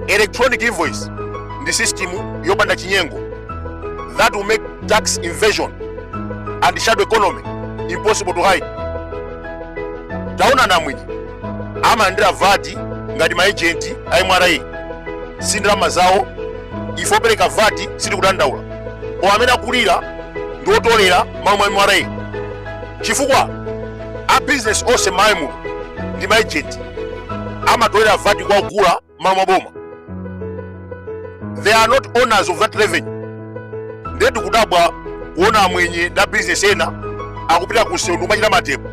electronic invoice ndi system yopanda chinyengo that will make tax evasion and shadow economy impossible to hide taonani amwenye amalandira vati ngati maejenti a mra si ndalama zawo ife opereka vati sitikudandaula koma amene akulira ndi otolera malo mwa mra chifukwa a business onse mmayimu ndi ma agent amatolera vati kwa ogula malo mwa boma they are not owners of that revenue ndiye tikudabwa kuona amwenye ndi a business ena akupita ku seundu kumachita mademo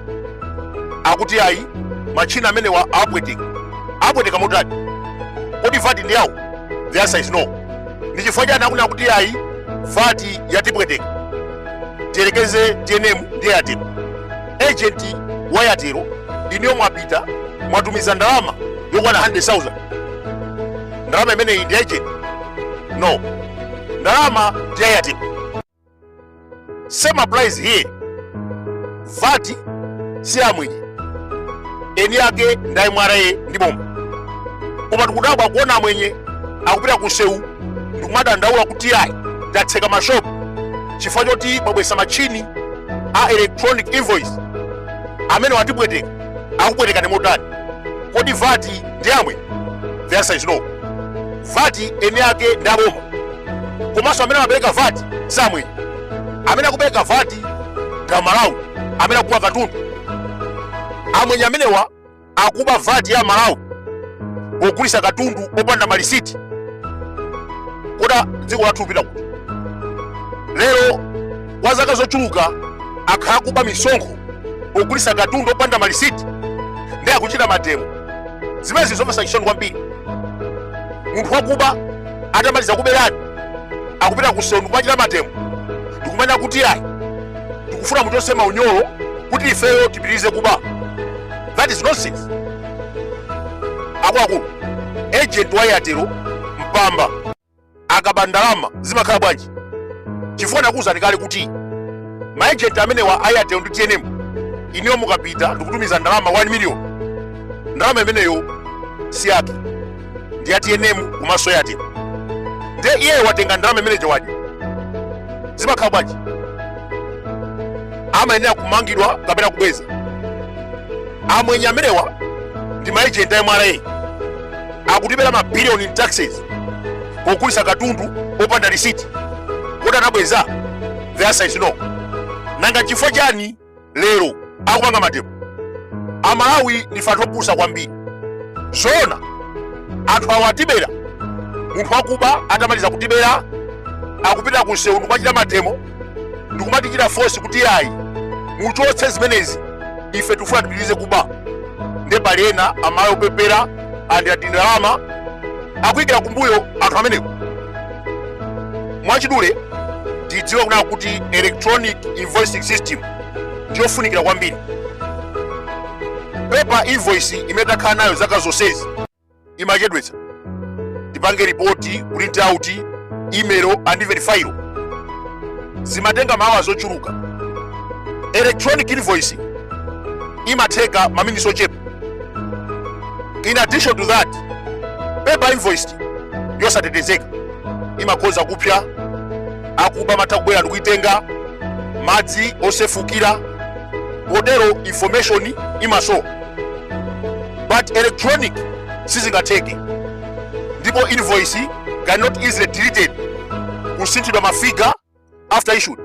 akuti ayi machina amenewa apweteka apweteka motani kodi vati ndi yawo the answer is no ndi chifukwa chani akunena kuti ayi vati yatipweteka tiyerekeze tnm ndi Airtel ejenti wa Airtel inuyo mwapita mwatumiza ndalama yokwana 100,000 ndalama imeneyi ndi ya ejenti no ndalama ndi ya Airtel same applies here vati si amwenye eni ake ndi a mra ndi boma koma tikudabwa kuona amwenye akupita ku sewu ndikumadandaula kuti ayi tatseka mashopu chifukwa choti mwabweretsa matchini a electronic invoice amenewa atipweteka akupwetekani motani kodi vati ndi ya amwenye the answer is no vati eni ake ndi aboma komanso amene amapereka vati si amwenye amene akupereka vati ndi amalawi amene akugula katundu amwenye amenewa akuba vat ya amalawi pogulisa katundu opanda malisiti kodi dziko lathu likupita kuti lero kwa zaka zochuluka akhala akuba misonkho pogulisa katundu opanda malisiti nde akuchita mademo zimenezi ndi zomvetsa chisoni kwambiri munthu wakuba atamaliza kuberani akupita kuseu ndikumachita mademo ndikumanena kuti ayi tikufuna muchose maunyolo kuti ifeyo tipitirize kuba that is nonsense akuluakulu agent wa airtel mpamba akaba ndalama zimakhala bwanji chifukwa nakuwuzani kale kuti maagent amenewa airtel ndi tnm inuyo mukapita ndikutumiza ndalama 1 million ndalama imeneyo si yake ndi ya tnm komanso ya airtel nde iyeyo watenga ndalama imene ija wadya zimakhala bwanji amayenera kumangidwa kapena kubweza amwenye amenewa ndi maejenti a mra akutibera mabiliyoni in taxes pogulisa katundu opanda risiti kodi anabweza the answer is no nanga chifukwa chani lero akupanga mademo amalawi ndife anthu opusa kwambiri zoona anthu awo atibera munthu wakuba atamaliza kutibera akupita ku msewu ndikumachita mademo ndikumatichita fosi kuti ayi muchotse zimenezi ife tifuna tipitirize kuba nde pali ena amalawi opepera alandira tindalama akuyikira kumbuyo anthu amenewo mwachidule tidziwe kunena kuti electronic invoicing system ndiyofunikira kwambiri paper invoice imene takhala nayo zaka zonsezi imachedwetsa tipange ripoti print out email and verify zimatenga ma hours ochuluka electronic invoice imatheka maminitsi ochepa in addition to that paper invoice yosatetezeka imakhoza kupsa akuba amatha kubwera ndikuitenga madzi osefukira kotero information imasowa but electronic sizingatheke ndipo invoice cannot easily deleted kusinthidwa mafiga after issued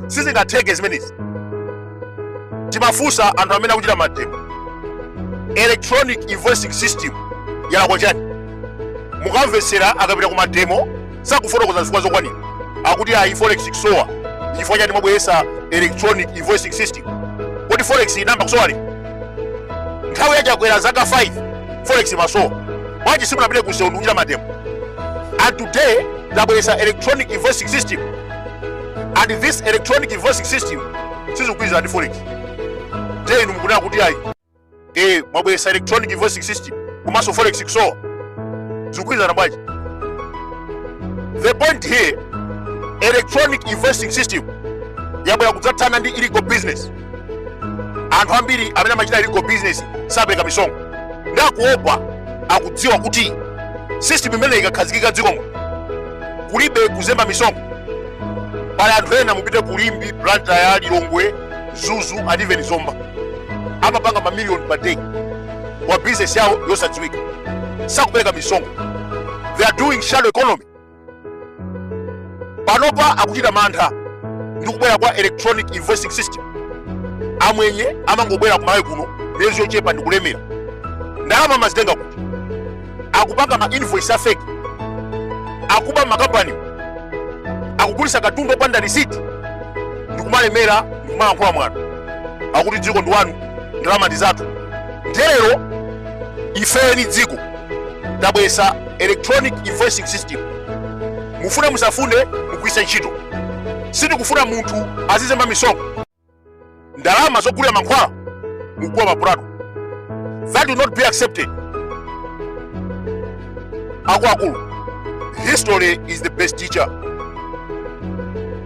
sizingatheke zimenezi timafunsa anthu amene akuchita mademo electronic invoicing system yalakwa chani mukamvetsera akapita ku mademo sakufotokoza zifukwa zokwanira akuti ayi forex ikusowa chifukwa chani mwabweretsa electronic invoicing system kodi forex inayamba kusowa liti nthawi ya Chakwera zaka 5 forex imasowa bwanji simunapite ku msewu ndikuchita mademo and today tabweresa electronic invoicing system and this electronic invoicing system sizikugwirizana ndi forex nde inu mukunena kuti ayi e mwabweresa electronic invoicing system komanso forex ikusowa zikugwirizana bwanji the point here electronic invoicing system yabwera kudzathana ndi illegal business anthu ambiri amene amachita illegal business sapereka misonkho nde akuopa akudziwa kuti system imene ikakhazikika m'dziko muno kulibe kuzemba misonkho pali anthu ena mupite ku Limbe Blantyre Lilongwe Mzuzu and even Zomba amapanga mamiliyoni per day mwa business yawo yosadziwika sakupereka misonkho they are doing shadow economy panopa akuchita mantha ndi kubwera kwa electronic invoicing system amwenye amangobwera ku Malawi kuno miyezi yochepa ndi kulemera ndalama amazitenga kuti akupanga ma invoice afeki akuba m'makampani akugulisa katundu opanda risiti ndikumalemera ndikumalankhula mwano akuti dziko ndi lanu ndalama ndi zathu Lero ifeyo ndi dziko tabwesa electronic invoicing system, mufune musafune mugwisa ntchito. Sitikufuna munthu azizemba misonkho, ndalama zogulira mankhwala mukugwa mapulato. That will not be accepted. Akuluakulu, history is the best teacher.